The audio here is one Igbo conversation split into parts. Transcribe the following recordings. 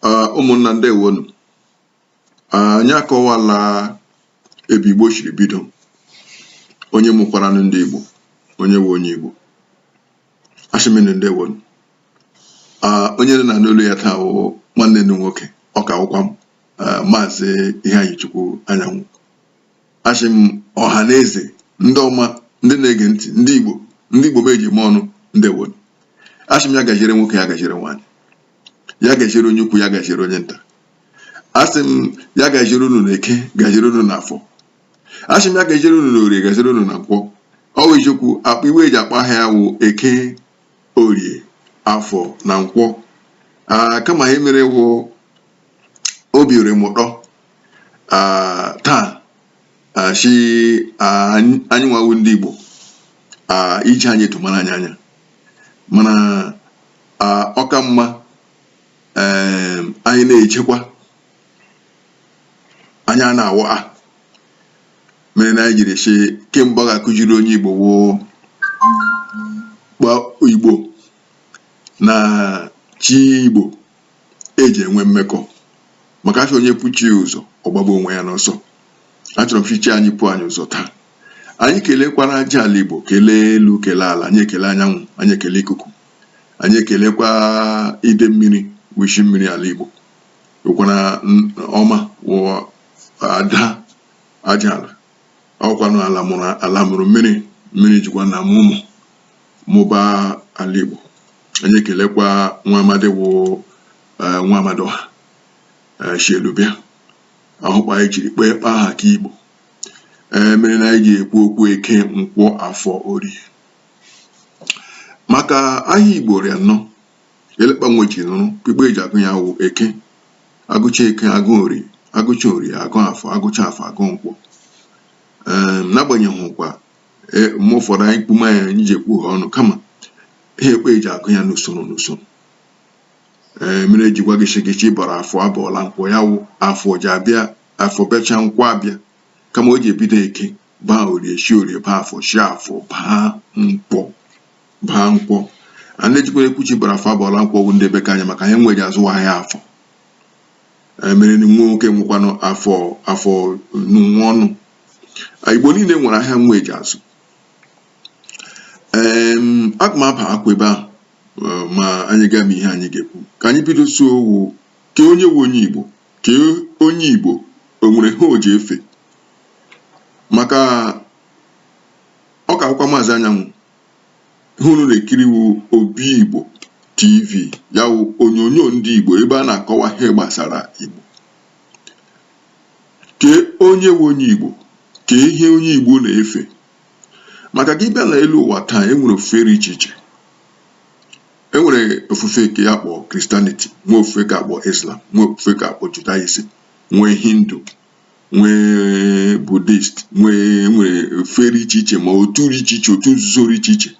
ah, ụmụnna ndewonu ah, anyị akọwala ebe Igbo shiri bido onye mụkwara ndị Igbo onye wụ onye Igbo ashị m unu ndewonu ah, onye unu na-anụ olu ya taa wụ nwanne unu nwoke ọka akwụkwọ m maazị Iheanyichukwu Anyanwụ ashị m ọha na eze ndị ọma ndị na-ege ntị ndị igbo ndị igbo m eji eme ọnụ ndewonu ashị m ya gaziere nwoke ya gaziere nwaanyị ya gaziere onye ukwu ya gaziere onye nta asị m ya gaziere unu na eke gaziere unu na afọ ashị m ya gaziere unu na orie gaziere unu na nkwọ ọ wụ eziokwu kpa nwe eji akpa aha ya wụ eke orie afọ na nkwọ kama ihe mere wụ obi rị m ụtọ taa ashị anyị nwa wụ ndị Igbo iji anyị etu mara anyị anya mana ọ ka mma anyị na-echekwa anyị a na-awụ a mere na anyị jiri shị kemgbe ọ ga-akụziri onye Igbo wụ kpa Igbo na chi Igbo e ji enwe mmekọ maka ashị onye pụ chi ya ụzọ ọ gbagbuo onwe ya n'ọsọ achọrọ m shị chi anyị pụọ anyị ụzọ taa anyị kelekwara aja ala igbo kelee elu kelee ala anyị ekele anyanwụ anyị ekele ikuku anyị ekelekwa ide mmiri wụ ishi mmiri ala igbo ụkwara ọma wụwa ada aja ala ọ wụkwanụ ala mụrụ ala mụrụ mmiri mmiri jikwa na mụọ ụmụ mụba ala Igbo anyị ekelekwa nwa amadi wụ e, nwa amadịọha e, shi elu bịa ahụkwa anyị jiri kpee kpa aha ke Igbo e, mere na anyị ji ekwu okwu eke nkwọ afọ orie maka ahịa Igbo rị anọ e lee kpa nwe ji nụrụ kpa Igbo eji agụ ya wụ eke agụcha eke agụ orie agụcha orie agụ afọ agụcha afọ agụ nkwọ n'agbanyeghịkwa e, mgbe ụfọdụ anyị kpume ya anyị ji ekwu ha ọnụ kama ha kpa eji agụ ya n'usoro n'usoro ee mere eji gwa gị shị gị chi bara afọ abọọla nkwọ ya wụ afọ ji abịa afọ bịacha nkwọ abịa kama o ji ebido eke baa orie shi orie baa afọ shi afọ baa nkwọ baa nkwọ a na-ejikwara ekwu chi bara afọ abọọla nkwọ wụ ndị be ke anyị maka ha enweghị azụ ahịa afọ mere na nwa nwoke nwekwanụ afọ afọ nwa ọnụ igbo niile nwere ahịa nwe eji azụ ee aga m abakwa ebe ahụ ma anyị gama ihe anyị ga-ekwu ka anyị bido isi okwu ke onye wụ onye igbo ke onye igbo o nwere ihe o ji efe maka ọka akwụkwọ maazị anyanwụ ihe unu na-ekiri wụ Obi Igbo TV ya wụ onyonyo ndị Igbo ebe a na-akọwa ihe gbasara Igbo kee onye wụ onye Igbo kee ihe onye Igbo na-efe maka gị bịa na elu ụwa taa e nwere ofufe dị iche iche e nwere ofufe nke a kpọ Christianity nwee ofufe ke a kpọ Islam nwee ofufe ke a kpọ Judaism nwee Hindu nwee Buddhist nwee ofufe dị iche iche ma otu dị iche iche otu nzuzo dị iche iche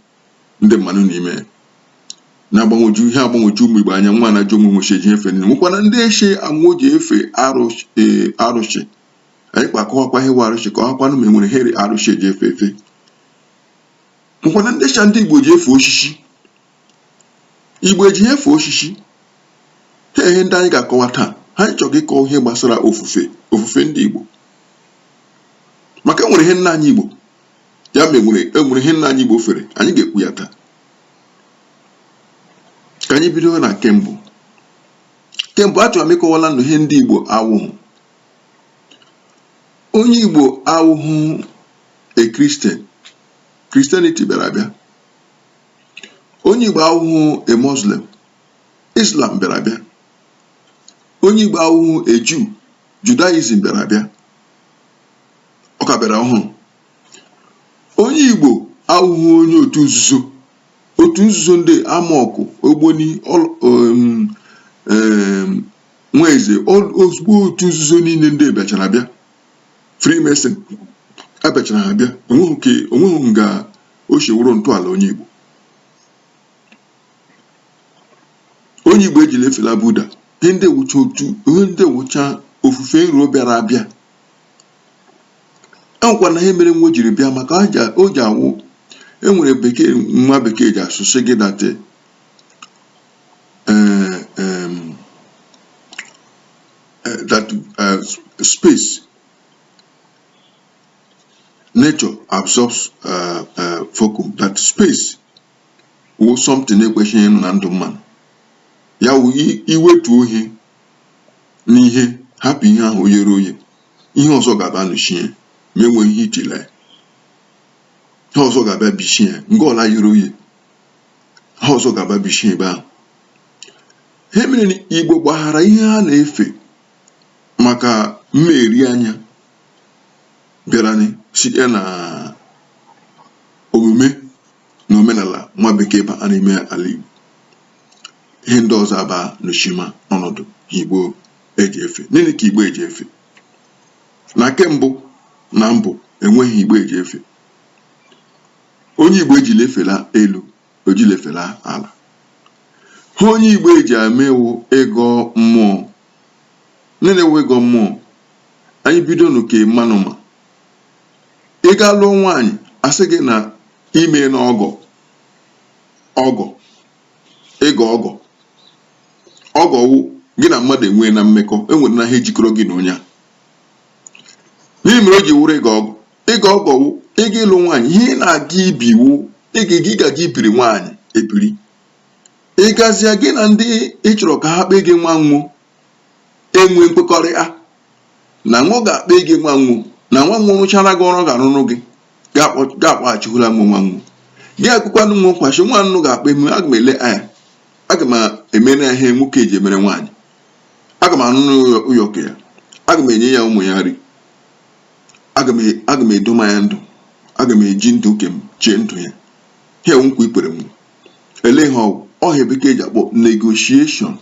ndị mmadụ nọ n'ime ya na-agbagwoju ihe agbagwoju ụmụ igbo anya nwa na-ajụ ụmụ nwechi eji efe nne nwekwana ndị sị amụọ ji efe arụsị e, arụsị anyị ga-akọwakwa ihe wụ arụsị ka ọ hakwanụ ma enwere ihe dị arụsị eji efe efe nwekwana ndị sị ndị igbo ji efe osisi Igbo ejighị efe oshishi. Ha ihe ndị anyị ga-akọwa taa. Ihe anyị chọrọ ịkọwa ihe gbasara ofufe ofufe ndị Igbo. Maka e nwere ihe nna anyị Igbo ya ma enwere enwere ihe nna anyị Igbo fere anyị ga-ekwu ya taa. Ka anyị bido na nke mbụ. Nke mbụ achọrọ m ịkọwala unu ihe ndị Igbo awụghị. Onye Igbo awụghị a Christian. Christianity bịara abịa. onye Igbo awụghụ a Muslim Islam bịara abịa onye Igbo awụghụ a Jew Judaism bịara abịa ọ ka bịara ọhụrụ onye Igbo awụghụ onye otu nzuzo otu nzuzo ndị AMORC ogboni nwa eze ozugbo otu nzuzo niile ndị a bịachara abịa Freemason ha bịachara abịa o nweghị nga o si wụrụ ntọala onye Igbo onye Igbo ejila efela Buddha ihe ndị a wụcha otu ihe ndị a wụcha ofufe nro bịara abịa e nwekwana ihe mere nwa jiri bịa maka o ji awụ enwere bekee nwa bekee ji asụ sị gị that eh, eh, that eh, space nature absorbs uh, uh, vacuum that space wụ something ekwesịghị ịnọ na ndụ mmadụ ya wụ i wetuo ihe n'ihe hapụ ihe ahụ o yere oye ihe ọzọ ga-abịa nọchie ma enweghị ihe i tila ya ihe ọzọ ga-abịa bichie ya nga ọla yere oye ihe ọzọ ga-abịa bichie ebe ahụ ihe mere igbo gbaghara ihe ha na-efe maka mmeri anya bịara anyị site na omume na omenala nwa bekee ba n'ime ala Igbo ihe ndị ọzọ aba n'ochima ọnọdụ Igbo eji efe gịnị ka Igbo eji efe na ke mbụ na mbụ enweghị Igbo eji efe onye Igbo ejila efela elu o jila efela ala ha onye Igbo eji eme wụ ịgọ mmụọ gịnị wụ ịgọ mmụọ anyị bidonụ ke mmanụ ma ị ga lụọ nwaanyị a sị gị na ime na ọgọ ọgọ ịgọ ọgọ ọgọ wụ gị na mmadụ enweena mmekọ enwere na ha ejikọrọ gị na onye a n'ihe mere o ji wụrụ ịgọ ọgọ ịga ọgọ wụ ịga ịlụ nwaanyị ihe ị na-aga ibi wụ ịga gị ga gị ibiri nwaanyị ebiri ịgazịa gị na ndị ị chọrọ ka ha kpee gị nwa wo enwe nkwekọrịta na wo ga-akpa gị nwa wo na nwa wo rụchara gị ọrụ ga-arụrụ gị ga-akpọghachihụla m nwa wo gị ekwukwanụ gwa wo sị nwa ụnụ ga-akpa m aga m ele anya aga m emere ya ihe nwoke eji emere nwaanyị aga m anụ n'ụyọkụ ya aga m enye ya ụmụ ya nri aga m e, aga m edoma ya ndụ aga m eji ndụ nke m chee ndụ ya ihe nkwa i kwere m ele ihe ọ wụ ihe bekee ji akpọ negotiation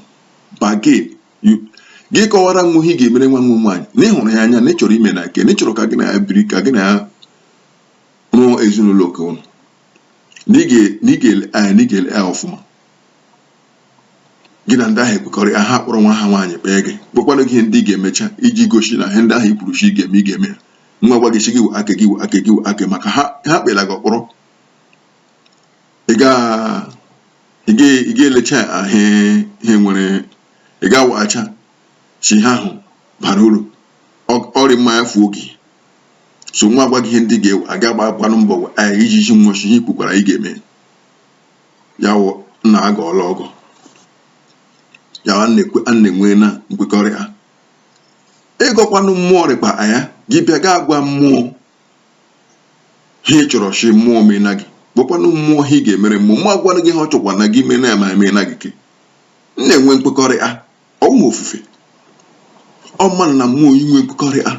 bargain gị kọwara wo ihe ị ga-emere nwa wo nwaanyị na ị hụrụ ya anya na ị chọrọ ime na nke na ị chọrọ ka gị na ya biri ka gị na ya rụọ ezinụlọ nke ụnụ na ị ga-ele anya na ị ga-ele ya ọfụma gị na ndị ahụ ekwekọrịa ha kpọrọ nwa ha nwaanyị kpee gị kpọkwanụ gị ihe ndị ị ga-emecha iji gosi na ihe ndị ahụ i kwuru sị ị ga-eme ị ga-eme ya wo gwa gị sị gị wụ aka gị wụ aka gị wụ aka maka ha ha kpela gị ọkpọrọ ị ga ị ga ị ga-elecha ya ahụ ihe nwere ị ga-awaghacha sị ha ahụ bara uru Ọ- ọ rị mma ya fuo gị so wo gwa gị ihe ndị ga-ewe aga gba gbanụ mbọ wee iji ji wo sị ihe i kwukwara ị ga-eme ya wụ na agọọla ọgọ ya a na-ekwe a na-enwe na nkwekọrịta ịgọkwanụ mmụọ rị kpa ya gị bịa gaa gwa mmụọ ha ị chọrọ sị mmụọ mena gị gwakwanụ mmụọ ha ị ga-emere mmụọ mmụọ agwanụ gị ha ọ chọkwa na gị mena ya ma emena gị ke m na-enwe nkwekọrịta ọ wụ ofufe ọ mmanụ na mmụọ inwe nkwekọrịta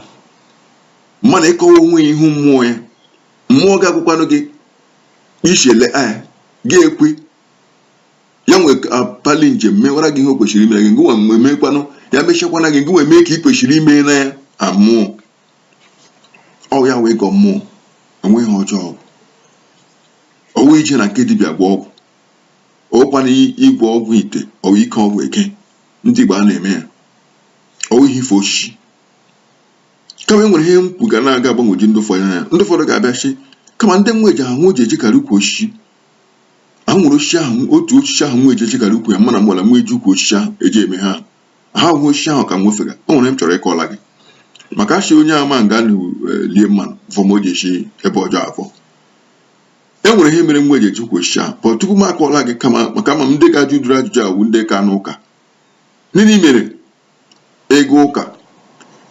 mmanụ ịkọwa onwe ya ihu mmụọ ya mmụọ ga-agwakwanụ gị ishele a gị ekwe ya nwe akpali njem mewara gị ihe o kwesịrị imere gị ngị nwa mgbe mekwanụ ya mechakwana gị ngị nwe mee ka ị kwesịrị imena mmụọ ọ ya wụ ịgọ mmụọ enweghị ihe ọjọọ bụ ọ wụ ije na nke dibịa gwọọ ọgwụ ọ wụkwana ịgwọ ọgwụ ite ọ wụ ike ọgwụ ke ndị Igbo a na-eme ya ọ wụghị ife osisi kama e nwere ihe m kwu ga na-aga agbagwoju ndị ụfọdụ anya ndị ụfọdụ ga-abịa sị kama ndị nwa eji ahụ ji ejikarị ukwu osisi ahụ nwere osisi ahụ otu osisi ahụ nwa eji ejikarị ukwu ya mana mgbala nwa eji ukwu osisi ahụ eji eme ha ha hụ osisi ahụ ka m nwefega o nwere m chọrọ ịkọla gị maka achị onye ama nga lie mmanụ vọm o ji esi ebe ọjọọ afọ e nwere ihe mere nwa eji eji ukwu osisi ahụ pọ tupu m akọla gị kama maka ama m ndị ga-ajụ ụdịrị ajụjụ a wụ ndị ka n'ụka nịnị mere ị ga ụka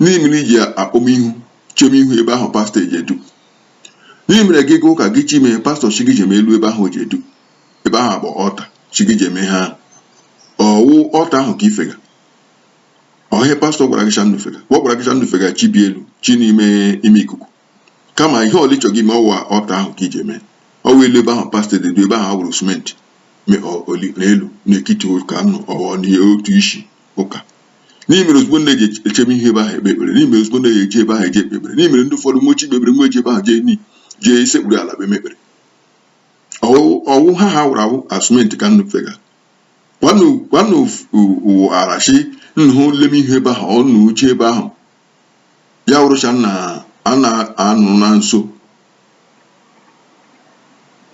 nịnị mere i ji akpọm ihu chem ihu ebe ahụ pastọ eji edu nịnị mere gị ga ụka gị chi mee pastọ sị gị jem elu ebe ahụ ji edu ebe ahụ bụ altar sị gị jem ha ọ wụ altar ahụ ka i fega ọhịa pastọ gwara gị shanụ fega ọ gwara gị shanụ fega chi bi elu chi n'ime ime ikuku kama ihe ọla ị chọ gị mee ọ wụ altar ahụ ka i ji eme ọ wụ elu ebe ahụ pastọ ji edu ebe ahụ a wụrụ simenti n'elu n'ekiti ụka nụ ọwa n'otu isi ụka nịnị mere ozugbo nnu ji echem ihu ebe ahụ ekpe ekpere nịnị mere ozugbo nnu ji eje ebe ahụ eje ekpe ekpere nịnị mere ndị ụfọdụ nwechi ikpe ekpere nweji ebe ahụ jee ni jee isekpuru ala bụ emekpere ọ wụ ha ha wụrụ awụ a simenti ka nnu fega kwanụ arụshị nnu lem ihu ebe ahụ unu je ebe ahụ ya wụrụcha na a na-anụ na nso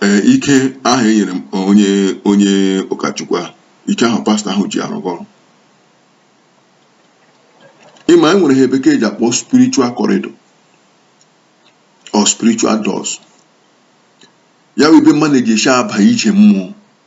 ee ike ahụ e nyere onye onye ụkọchukwu a ike ahụ pastọ ahụ ji arụga ọrụ ị ma e nwere ihe bekee ji akpọ spiritual corridor or spiritual doors ya wụ ebe mmadụ ji esi aba ije mmụọ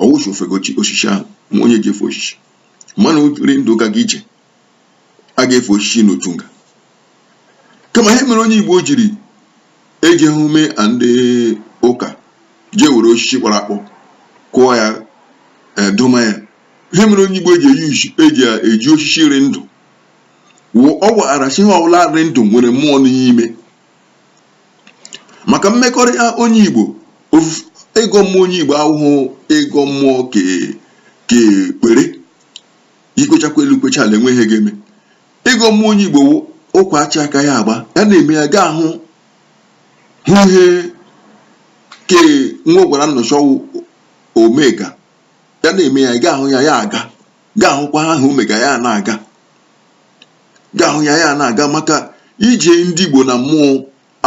ọ wụ sị ofegochi osisi ahụ ma onye ji efe osisi mana ri ndụ gaga ije a ga-efe osisi n'otu nga kama ihe mere onye igbo jiri eji eme ndị ụka jee were osisi kpọrọ akpọ kụọ ya eh, doma ya ihe mere onye igbo eji eji eji osisi ri ndụ ọ gwara sị ihe ọbụla ri ndụ nwere mmụọ n'ime maka mmekọrịta onye Igbo ịgọ mmụọ onye Igbo awụhụ ịgọ mmụọ ke ekpere i kwechakwa elu kwecha ala enweghị ihe ga-eme ịgọ mmụọ onye Igbo ụkwa achị aka ya agba ya na-eme ya ga-ahụ hụ ihe ke nwa gwara nnu sị ọ wụ omega ya na-eme ya ị ga-ahụ ya ya aga ga-ahụkwa ha ahụ mega ya na-aga ga-ahụ ya ya na-aga maka ije ndị Igbo na mmụọ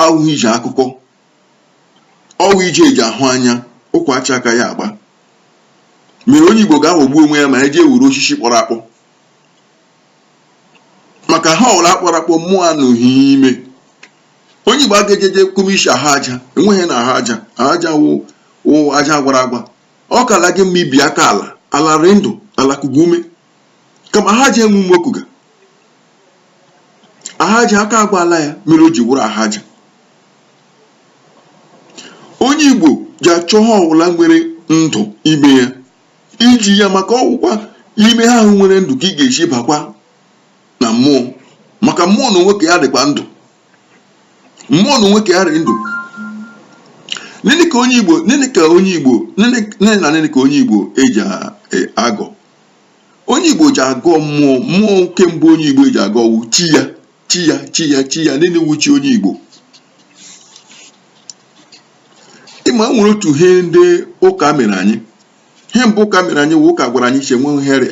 awụhụ ije akụkọ ọ wụ ije eji ahụ anya ụkwa acha aka ya agba mere onye Igbo ga-aghọgbu onwe ya ma ya jee wuru osisi kpọrọ akpọ maka ihe ọla kpọrọ akpọ mmụọ anọghị ime onye Igbo aga ejeje kụmishi ahụ aja enweghị na ahụ aja ahụ aja wụ aja gwara agwa Ọ kala gị mma ibi aka ala, ala rị ndụ, ala kuga ume, kama aha aja enwe ume o kuga. Aha aja aka agbaala ya mere o ji wụrụ aha aja. Onye Igbo ji achọ ihe ọwụla nwere ndụ ime ya iji ya maka ọ wụkwa ime ihe ahụ nwere ndụ ka ị ga-esi bakwa na mmụọ maka mmụọ na onwe ke ya dịkwa ndụ mmụọ na onwe ke ya rị ndụ nini ka onye igbo nini ka onye igbo nini na nini ka onye igbo eji e, agọ onye igbo ji agọ mmụọ mmụọ ke mbụ onye igbo eji agọ wụ chi ya chi ya chi ya chi ya nini wụ chi onye igbo ị ma nwere otu ihe ndị ụka mere anyị ihe mbụ ụka mere anyị wụ ụka gwara anyị si enwe nhe rị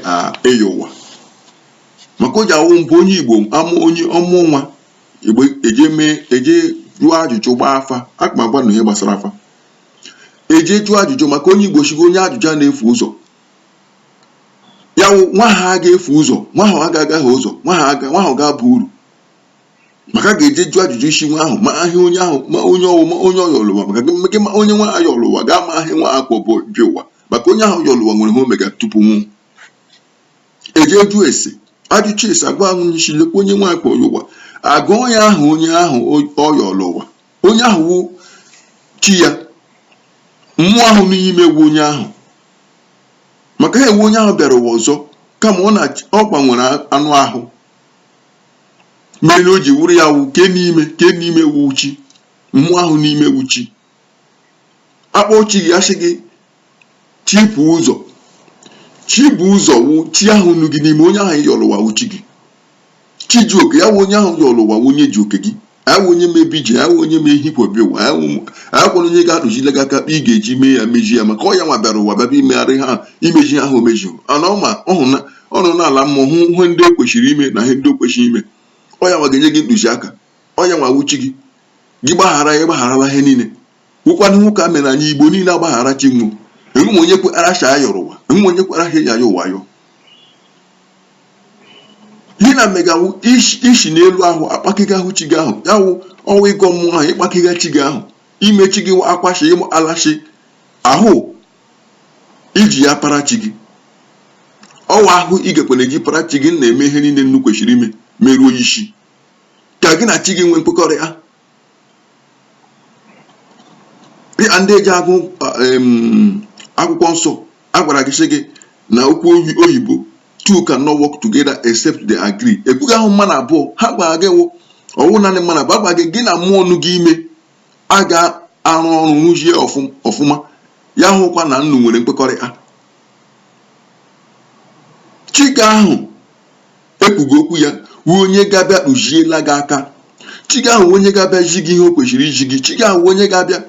ịyọ ụwa maka o ji awụ mbụ onye igbo amụ onye ọ mụ nwa igbo eje mee eje jụọ ajụjụ gbaa afa aka m agwa unu ihe gbasara afa eje jụọ ajụjụ maka onye igbo sịga onye ajụjụ a na-efu ụzọ ya wụ nwa ahụ aga efu ụzọ nwa ahụ aga agaha ụzọ nwa ahụ ga-aba uru maka a ga-eje jụ ajụjụ isi nwa ahụ ma ihe onye ahụ ma onye ọ wụ ma onye ọ yọrọ ụwa maka gị gị ma onye nwa yọrọ ụwa ga-ama ihe nwa ahụ kwo bịa ụwa maka onye ahụ yọrọ ụwa nwere ihe o mega tupu ọ nwụọ eje jụ ese ajụcha ese agwa ahụ onye sị lekwa onye nwa ya ka ọ yọ ụwa agụọ ya aha onye ahụ ọ yọrọ ụwa onye ahụ wụ chi ya mmụọ ahụ n'ime ya wụ onye ahụ maka ha wụ onye ahụ bịara ụwa ọzọ kama ọ na ọ gbanwere anụ ahụ mere na o ji wụrụ ya wụ ke n'ime ke n'ime wụ chi mmụọ ahụ n'ime wụ chi akpọ chi gị asị gị chi bu ụzọ chi bu ụzọ wụ chi ahụ nọ gị n'ime onye ahụ yọrọ ụwa wụ chi gị chi ji oke ya wụ onye ahụ yọrọ ụwa wụ onye ji oke gị awụ onye ma ebe i ji awụ onye ma ihe i kwo bịa ụwa akwụrụ onye ga-atụzile gị aka kpa ị ga-eji mee ya mezie ya maka ọ ya nwa bịara ụwa bịaba imegharị ha imezi ihe ahụ o mezi ana ọ ma ọhụ na ọ nọ n'ala mmụọ hụ ihe ndị o kwesịrị ime na ihe ndị o kwesịrị ime ọ ya nwa ga-enye gị ntụziaka ọ ya nwa wụ chi gị gị gbaghara ya gbagharala ihe niile wụkwanụ ihe ụka mere anyị igbo niile agbaghara chi nwọ enwe onye kweara shị a yọrọ ụwa enwe onye kweara ha ya ya ụwa yọ gị na megawu isi n'elu ahụ akpakịga ahụ chi gị ahụ ya wụ ọnwa ịgọ mmụọ ahụ ịkpakịga chi gị ahụ ime chi gị akwashi ịmụ alụshị ahụ iji ya para chi gị ọwa ahụ ị ga-ekwere gị para chi gị na-eme ihe niile unu kwesịrị ime meruo isi ka gị na chi gị nwee nkwekọrịta dịkà ndị eji agụ um akwụkwọ nsọ a gwàrà gị sị gị nà okwu oyìbo two can not work together except they agree ekwughị ahụ mmanụ abụọ ha gwàrà gị wụ ọwụ nanị mmanụ abụọ agwàrà gị gị na mmụọ nụ gị ime a ga-arụ ọrụ rụzie ọfụma ya hụkwa na unu nwere nkwekọrịta chi gị ahụ e kwu gị okwu ya wụ onye ga-abịa tụziela gị aka chi gị ahụ onye ga-abịa zi gị ihe o kwesịrị izi gị chi gị ahụ onye ga-abịa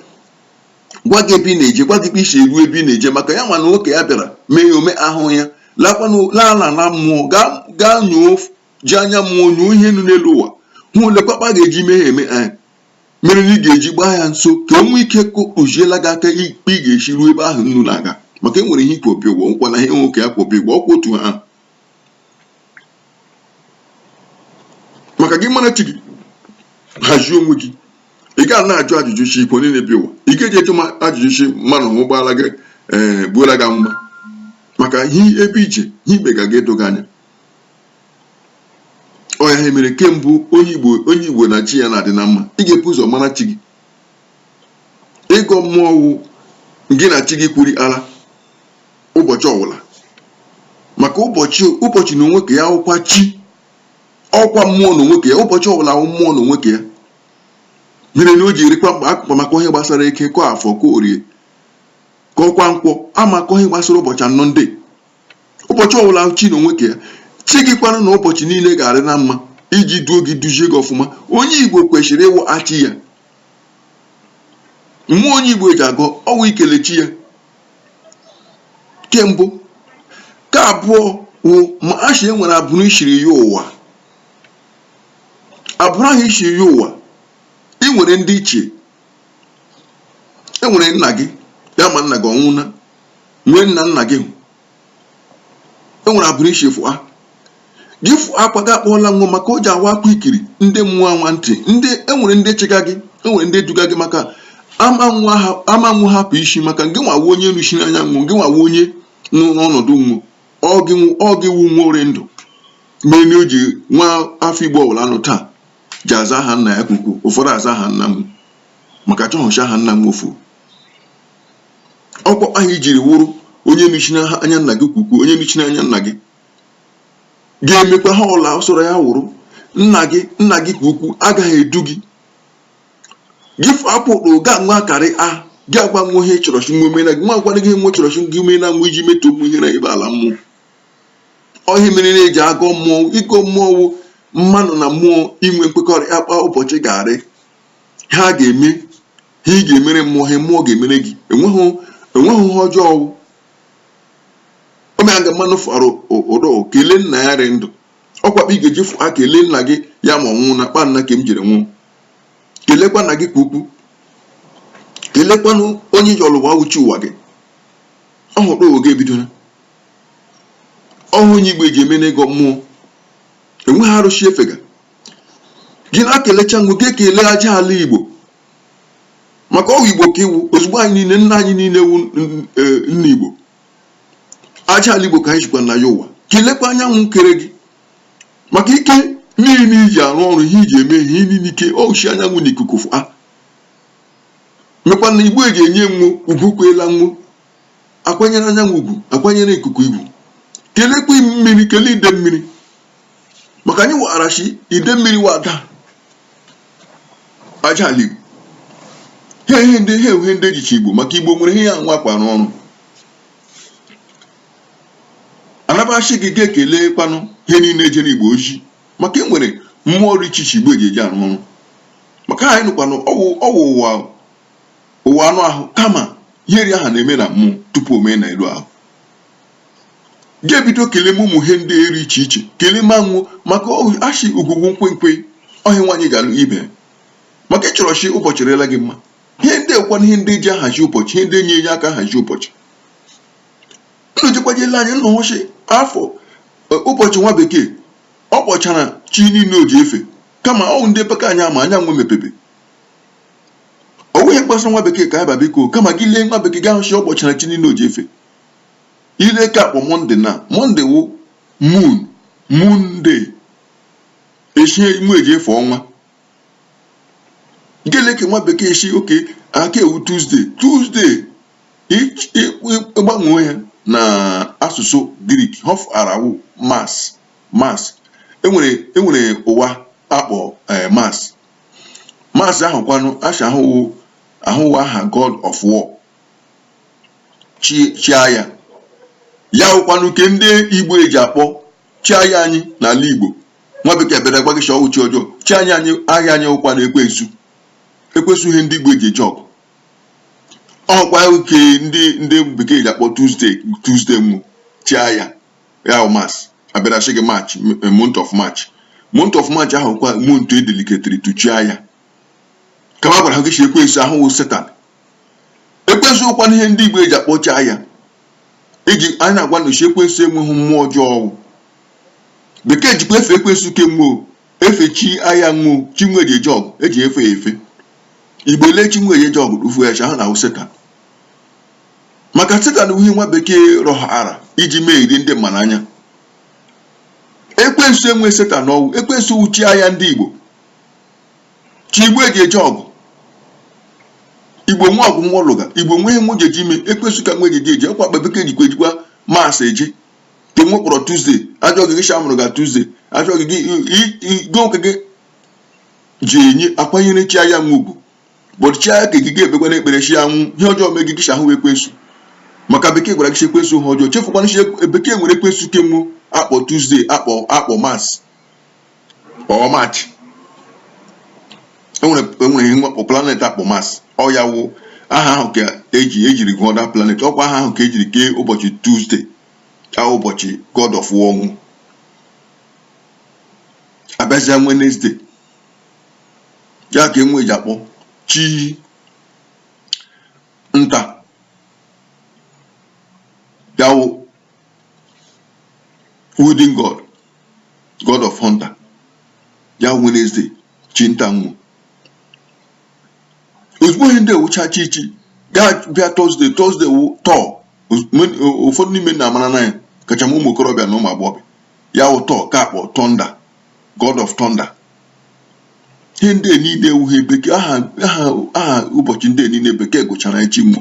gwa gị ebe ị na-eje gwa gị ebe i si eru ebe ị na-eje maka ya mana oke ya bịara mee ya ome ahụ ya laala na mmụọ gaa nyoo ji anya mmụọ nyoo ihe nụ n'elu ụwa hụ lee kpa a ga-eji mee ya eme anyị eh, mere na ị ga-eji gbaa ya nso ka o nwee ike tụziela gị aka ikpe ị ga-esi ruo ebe ahụ unu na-aga maka e nwere ihe ikwobi ụgwọ nkwa na ihe nwoke ya kwobi ụgwọ ọkwa otu ha maka gị mara chi gị hazie onwe gị ị ga na-ajụ ajụjụ shị ikwe niile bi ụwa ị ga-eji eche ma ajụjụ shị mmanụ hụ ụgbọala gị ee gbuola gị mma maka ihe ebe i je ihe ikpe ga ga-edo gị anya ọ ya ha mere kemgbe onye igbo onye igbo na chi ya na-adị na mma ị ga-ebu ụzọ mara chi gị ịgọ mmụọ wụ gị na chi gị kwuri ala ụbọchị ọwụla maka ụbọchị ụbọchị n'onwe ke ya ọwụkwa chi ọwụkwa mmụọ n'onwe ke ya ụbọchị ọwụla wụ mmụọ n'onwe ke ya mere na o ji erikwa mkpa akụkọ maka ihe gbasara eke ka afọ ka orie ka ọkwa nkwọ ama akọ ihe gbasara ụbọchị anọ ndị ụbọchị ọwụla chi n'onwe ke ya chi gị kwanụ na ụbọchị niile ga-arị na mma iji duo gị duzie gị ọfụma onye igbo kwesịrị ịwụ achị ya mmụọ onye igbo eji agọ ọwụ ikele chi ya nke mbụ nke abụọ wụ ma a shị e nwere abụrụ i shiri yọ ụwa abụrụ ahụ i shiri yọ ụwa ị nwere ndị ichie e nwere nna gị ya ma nna gị ọ nwụọna e nwere nna nna gị e nwere abụrụ i shi fụa gị fụọ akwa gị akpọọla wọ maka o ji awa akwa ikiri ndị mmụọ anwa ntị ndị enwere ndị chịga gị enwere ndị duga gị maka ama wọ hapụ isi maka gị nwa wụ onye nọchiri anya wọ gị nwa wụ onye nụ n'ọnọdụ wọ ọ gị wụ wọ rị ndụ mere na o ji nwa afọ igbo ọbụla nụ taa ji aza aha nna ya ukwukwu ụfọdụ aza aha nna m maka a chọhụ shị aha nna wọ fuo ọ kwa kpa ị jiri wụrụ onye nọchiri anya nna gị ka ukwu onye nọchiri anya nna gị ga-emekwa ha ọla soro ya wụrụ nna gị nna gị ka ukwu agaghị edu gị gị apụrụ ga nwa karị a gị agwa nwa ihe ị chọrọ shi nwa omena gị nwa agwara gị nwa chọrọ shi gị omena nwa iji metụ ụmụ ihe na ebe ala mmụọ ọ ihe a mere na-eji agọ mmụọ ịgọ mmụọ wụ mmanụ na mmụọ inwe nkwekọrịta kpa ụbọchị ga-arị ha ga-eme ihe ị ga-emere mmụọ ihe mmụọ ga-emere gị enweghị enweghị ihe ọjọọ ọ wụ omeaga mmanụ fara ụdọ kelee nna ya rị ndụ ọ kwa kpa ị ga-eji fụ ha kelee nna gị ya ma ọ nwụọ na kpa nna ka m jiri nwụọ kelekwa nna gị ka ukwu kelekwanụ onye ji ịlọ ụwa wụ chi ụwa gị ọhụrụ oge ebidola ọhụụ onye igbo eji eme n'ịgọ mmụọ enweghị arụsị efega gị ekelecha nwo gị ekele aja ala igbo maka ọ wụ igbo ka ị wụ ozugbo anyị niile nna anyị niile wụ e, nna igbo aja ala igbo ka anyị jikwa na ya ụwa kelekwa anyanwụ kere gị maka ike niile iji arụ ọrụ ihe iji eme ihe niile ike o shi anyanwụ na ikuku a ah. mekwanụ igbo eji enye nwo ugwu kweela nwo akwanyere anyanwụ ugwu akwanyere ikuku ugwu kelekwa mmiri kelee ide mmiri maka anyị wara shi ide mmiri wụ ada aja ala igbo ha ihe ndị ha ihe ndị ejichi igbo maka igbo nwere ihe ya nwa akwa n'ọrụ anaba shi gị ga-ekele kwanụ ihe niile ejere igbo ozi maka e nwere mmụọ ọrụ iche iche igbo eji eji arụ ọrụ maka anyị nọkwanụ ọ wụ ụwa ụwa anụ ahụ kama ihe ri aha na-eme na mmụọ tupu o mee na elu ahụ ga-ebido keleme ụmụ ihe ndị a rị iche iche keleme nwo maka ashị ugwu wụ nkwenkwe ọhịa nwaanyị ga-alụ ibe maka ị chọrọ shi ụbọchị rela gị mma ihe ndị a kwa ihe ndị ji ahazi ụbọchị ihe ndị enye enye aka ahazi ụbọchị unu jekwajela anyị nna ọchị afọ e, ụbọchị nwa bekee ọ kpọchara chi niile o ji efe kama ọ wụ ndị paka anyị ama anya nwo mepebe o nweghị mkpasa nwa bekee ka ya ba biko kama gị lee nwa bekee gị ahụ chi ọ kpọchara chi niile o ji efe ị lee nke akpọ monday na monday wụ moon moon day eshie imu eji efe ọnwa gị lee nke nwa bekee shi okay nke a wụ tuesday tuesday ịgbanwe ya na asụsụ greek ihe ọ fara wụ mars mars enwere enwere ụwa akpọ eh, mars mars ahụ kwanụ asha ahụ wụ ahụ wụ aha god of war chi chi aya ya wụkwanụ ke ndị igbo eji akpọ chi aya anyị n'ala igbo nwa bekee bịara gwa gị shi ọ wụ chi ọjọọ chi anyị anyị aya anyị wụkwanụ ekwensu ekwensu ihe ndị igbo eji eje ọgụ ọ kwa nke ndị ndị bekee ji akpọ Tuesday Tuesday wụ chi aya ya Mars a bịara sị gị march month of march month of march ahụ kwa month e dediketiri to chi aya kama gwara ha gị si ekwensu ahụ wụ setan ekwensu wụkwanụ ihe ndị Igbo eji akpọ chi aya iji anyị na-agwa unu shi ekwensu awụghị mmụọ ọjọọ ọ wụ bekee jikwa efe ekwensu ke nwe efe chi aya nwe chi nwe eji eje ọgụ eji efe ya efe igbo ele chi nwe eji eje ọgụ rufu ya ha na ọ wụ setan maka setan wụ ihe nwa bekee rọhara iji meghịrị ndị mmadụ anya ekwensu awụghị setan ọ wụ ekwensu wụ chi aya ndị igbo chi igbo eji eje ọgụ igbo nwee ọgụ nwe alụga igbo nwee ihe nwe jeji ime ekwensu ka nwe jeji eje ọ kwa akpa bekee jikwa ejikwa Mars eje ke nwe kpọrọ Tuesday a jụọ gị gị shi a mụrụ gị Tuesday a jụọ gị gị igwe nwoke gị ji enye akwanyere chi aya nwe ugwu but chi aya ke gị gị ebekwa na ekpere chi anwụ ihe ọjọọ mee gị gị shi ọ wụ ekwensu maka bekee gwara gị ekwensu ha ọjọọ chefukwana shi bekee nwere ekwensu ke nwe akpọ Tuesday akpọ akpọ Mars or March e nwere e nwere ihe nwe akpọ planet akpọ Mars ọ ya wụ aha ahụ ka eji ejiri gụọ that planet ọ kwa aha ahụ ka ejiri kee ụbọchị Tuesday ka ụbọchị God of War ọ wụ a bịazịa Wednesday ya ka nwe eji akpọ chi nta ya wụ Woden God god of hunter ya wụ Wednesday chi nta nwo ozugbo ihe ndị a wụcha chi chi gị abịa Thursday Thursday wụ Thor ụfọdụ n'ime unu amarana ya kacha ma ụmụ okorobịa na ụmụ agbọghọbịa ya wụ Thor ka akpọ thunder god of thunder ihe ndị niile awụghị bekee aha aha ụbọchị ndị niile bekee gụchara chi nwo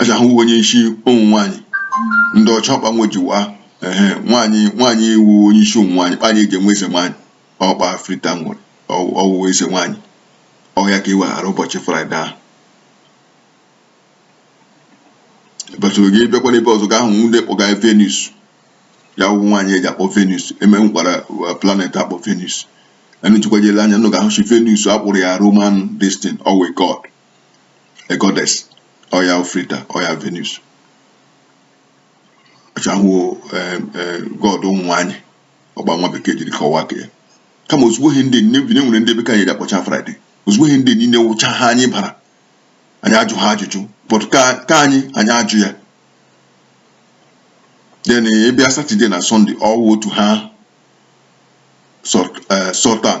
a sị ọ wụ onye isi ụmụ nwaanyị ndị ọcha ọkpa nwejiwa ehe nwaanyị nwaanyị iwu onye isi ụmụ nwaanyị kpa anyị eji enwe eze nwaanyị ọkpa frita nwere ọ wụwa eze nwaanyị ọ ya ka e weere ụbọchị Friday ahụ but ọ wụrụ gị bịakwa n'ebe ọzọ ị ga-ahụ ndị kpọga venus ya wụ nwaanyị eji akpọ venus e nwekwara uh, planet akpọ venus unu jekwaa je lee anya unu ga-ahụ shi venus a kpọrọ ya roman destin ọ wụ god a goddess ọ ya Frida ọ ya Venus ọchahụ god ụmụ nwaanyị ọ kpa nwa bekee jiri kọwaa nke ya kama ozugbo ihe ndị e nwere ndị bekee anyị ji akpọcha Friday ozugbo ihe ndị niile wụcha ihe anyị bara anyị ajụ ha ajụjụ but ka anyị anyị ajụ ya then ị bịa Saturday na Sunday ọ wụ otu ihe Saturn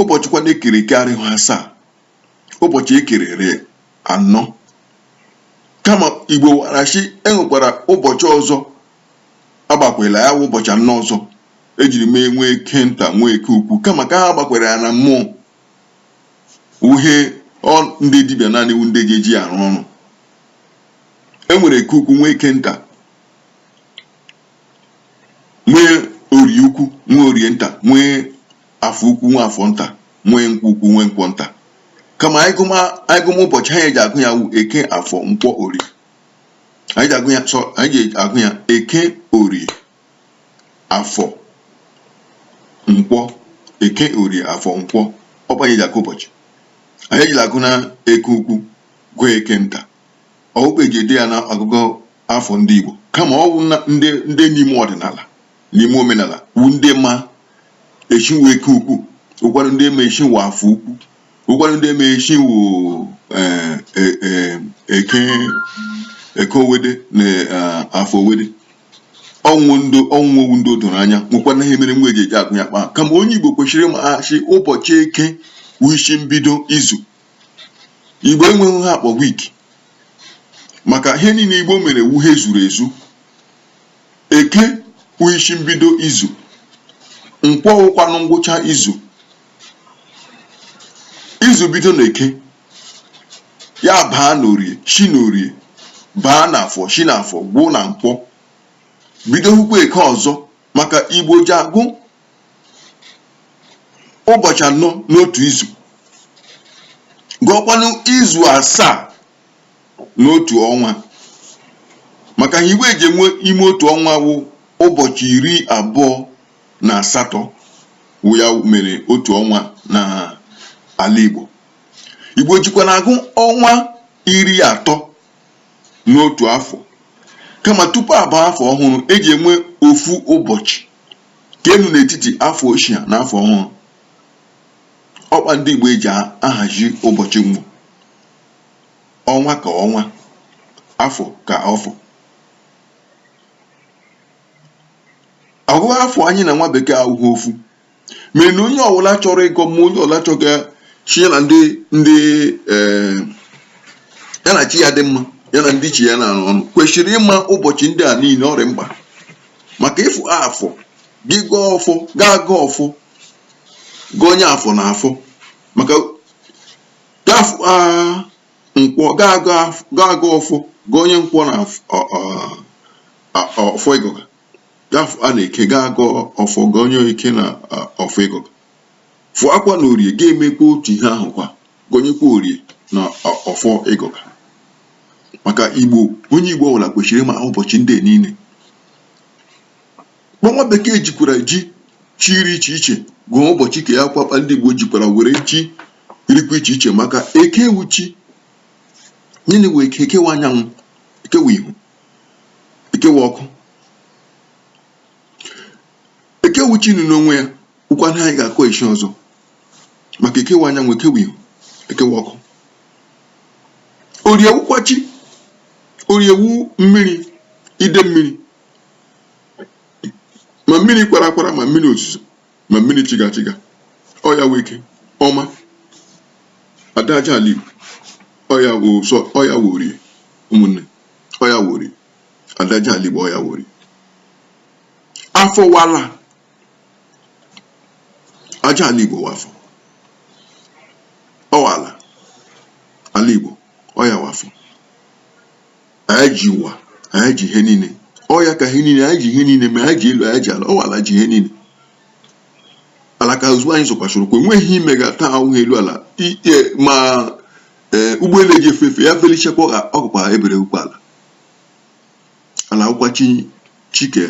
ụbọchị kwanụ e kere eke arịghị asaa ụbọchị e kere rị anọ kama Igbo mara sị e nwekwara ụbọchị ọzọ agbakwela ya wụ ụbọchị anọ ọzọ e jiri mee nwee eke nta nwee eke ukwu kama ka ha gbakwara ya na mmụọ ihe ndị dibịa naanị wụ ndị ji eji arụ ọrụ e nwere eke ukwu nwee eke nta nwee orie ukwu nwee orie nta nwee afọ ukwu nwee afọ nta nwee nkwọ ukwu nwee nkwọ nta kama anyị gụma anyị gụma ụbọchị anyị ji agụ ya wụ eke afọ nkwọ orie anyị ji agụ ya sọ anyị ji agụ ya eke orie afọ nkwọ eke orie afọ nkwọ ọ kpa anyị ji agụ ụbọchị anyị ejila agụ na eke ukwu gụọ eke nta ọ wụ kpa e ji ede ya na ọgụgụ afọ ndị Igbo kama ọ wụ ndị dị n'ime ọdịnala n'ime omenala wụ ndị ma echi wụ eke ukwu wụkwanụ ndị ma echi wụ afọ ukwu wụkwanụ ndị ma echi wụ eh, eh, eh, eke eke owede na ah, afọ owede ọ wụ ndị ọ wụ ọ wụ ndị o doro anya nwekwa na ihe mere nwa eji eji agụ ya kpaa kama onye Igbo kwesịrị ịma sị ụbọchị eke wụ isi mbido izu Igbo enweghị ihe a kpọ week maka ihe niile Igbo mere wụ ihe zuru ezu Eke wụ isi mbido izu. Nkwọ wụkwanụ ngwụcha izu. Izu bido n'Eke, ya baa n'Orie, si n'Orie baa n'Afọ, si n'Afọ gwụ na Nkwọ. Bido hụkwa Eke ọzọ maka Igbo ji agụ ụbọchị anọ n'otu izu. Gụọkwanụ izu asaa n'otu ọnwa maka ihe e ji enwe ime otu ọnwa wụ ụbọchị iri abụọ na asatọ wụ ya mere otu ọnwa na ala Igbo Igbo jikwa na agụ ọnwa iri atọ n'otu afọ kama tupu a baa afọ ọhụrụ e ji enwe ofu ụbọchị nke nọ n'etiti afọ ochie na afọ ọhụrụ ọ kpa ndị Igbo eji ahazi ụbọchị mbụ ọnwa ka ọnwa afọ ka afọ ịgụ afọ anyị na nwa bekee awụghị ofu mana onye ọbụla chọrọ ịgọ mmụọ onye ọbụla chọga chi ya na ndị ndị eh, ya na chi ya dị mma ya na ndị chi ya na-arụ ọnụ kwesịrị ịma ụbọchị ndị a niile ọ rị mkpa maka ịfụ afọ gị gọọ ọfọ ga-agọ ọfọ gọnye afọ na ọfọ maka gafụa nkwọ ga-agọ af- ga-agọ ọfọ gọnye nkwọ na af- ọ- ọ- a- ọfọ ị gọga gafụa na eke ga-agọ ọfọ gọnye eke na a, ọfọ ị gọga fụakwa na orie ga-emekwa otu ihe ahụ kwa gọnyekwa orie na ọ- ọfọ ị gọga maka igbo onye igbo ọbụla kwesịrị ịma ụbọchị ndị a niile kpa nwa bekee jikwara ji chi rị iche iche gụọ ụbọchị ka ya kwa kpa ndị Igbo jikwara were chi rịkwa iche iche maka eke wụ chi n'onwe eke wụ anyanwụ eke wụ ihe eke wụ ọkụ eke wụ chi nọ n'onwe ya ụka anyị ga-akọ echi ọzọ maka eke wụ anyanwụ eke wụ ihe eke wụ ọkụ orie wụkwa chi orie wụ mmiri ide mmiri ma mmiri kwara akwara ma mmiri ozuzo ma mmiri chiga chiga ọ ya wụ eke ọma ada aja ala igbo ọ ya wụ sọ ọ ya wụ orie ụmụnne ọ ya wụ orie ada aja ala igbo ọ ya wụ orie afọ wụ ala aja ala igbo wụ afọ ọ wụ ala ala igbo ọ ya wụ afọ anyị ji ụwa anyị ji ihe niile ọ ya ka ihe niile anyị ji ihe niile ma anyị ji elu anyị ji ala ọ wụ ala ji ihe niile ala ka ozugbo anyị zọkwasịrị ụkwụ enweghị ihe mega taa awụghị elu ala ike ma e, ụgbọelu eji efe efe ya felichekwa ọ gakwa ebere ụkwụ ala ala wụkwa chi shi ike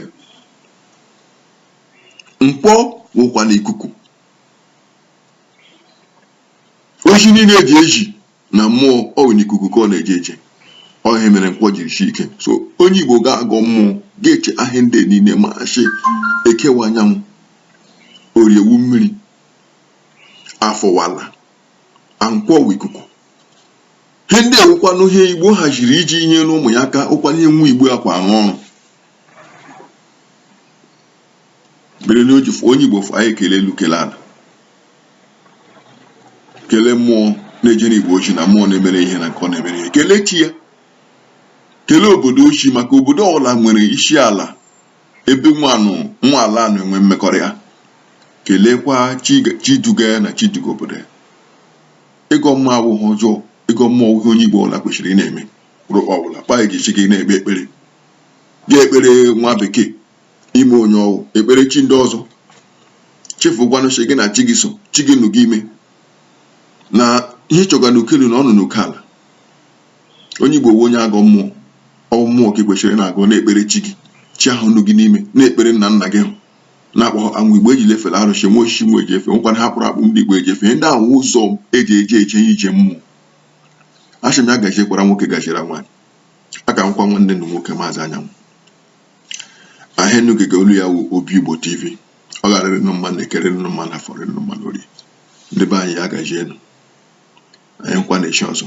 nkwọ wụkwanụ ikuku ozi niile eji ezi na mmụọ ọ wụ n'ikuku ka ọ na-eje eje ọ ihe mere nkwọ jiri shi ike so onye igbo ga-agọ mmụọ ga-eche ihe ndị niile ma sị eke wụ anyanwụ orie wụ mmiri afọ wụ ala nkwọ wụ ikuku ihe ndị a wụkwanụ ihe igbo haziri iji nyere ụmụ ya aka ọ kwanụ ihe nwa igbo akwa arụ ọrụ Bere n'oji fụ onye Igbo fụ anyị ekele elu kelee ala kelee mmụọ na-ejere Igbo ozi na mmụọ na-emere ihe na nke ọ na-emere ihe kelee chi ya kelee obodo o si maka obodo ọbụla nwere isi ala ebe nwanụ nwa ala anụ enwe mmekọrịta keleekwa chi duga ya na chi duga obodo ya ịgọ mmụọ abụghị ihe ọjọọ ịgọ mmụọ wụ ihe onye Igbo ọbụla kwesịrị ị na-eme rụkpa ọbụla kpa eji chi gị na-ekpe ekpere gị ekpere nwa bekee ime onye ọ wụ ekpere chi ndị ọzọ chefukwanụ chi gị na chi gị so chi gị nụ gị n'ime na ihe ị chọga n'uko elu na ọ nụ n'uko ala onye igbo onye agọ mmụọ ọ wụ mmụọ ka i kwesịrị na-agọ na-ekpere chi gị chi ahụ nụ gị n'ime na-ekpere nna nna gị hụ na-akpọ anwụ igbo eji lefere arụsị nwe osisi nwe eji efe nwekwana ha kpụrụ akpụ ndị igbo eji efe ndị ahụ ụzọ eji eji eje ije mmụọ asị m ya gaziekwara nwoke gaziere nwaanyị aka m wụkwa nwanne unu nwoke maazị anyanwụ ahịa unu gega olu ya wụ obi igbo tv ọ ga-arịrị nụ mma n'eke rị nụ mma n'afọ rị nụ mma n'orie ndị be anyị ya gajienụ anyị nkwa na echi ọzọ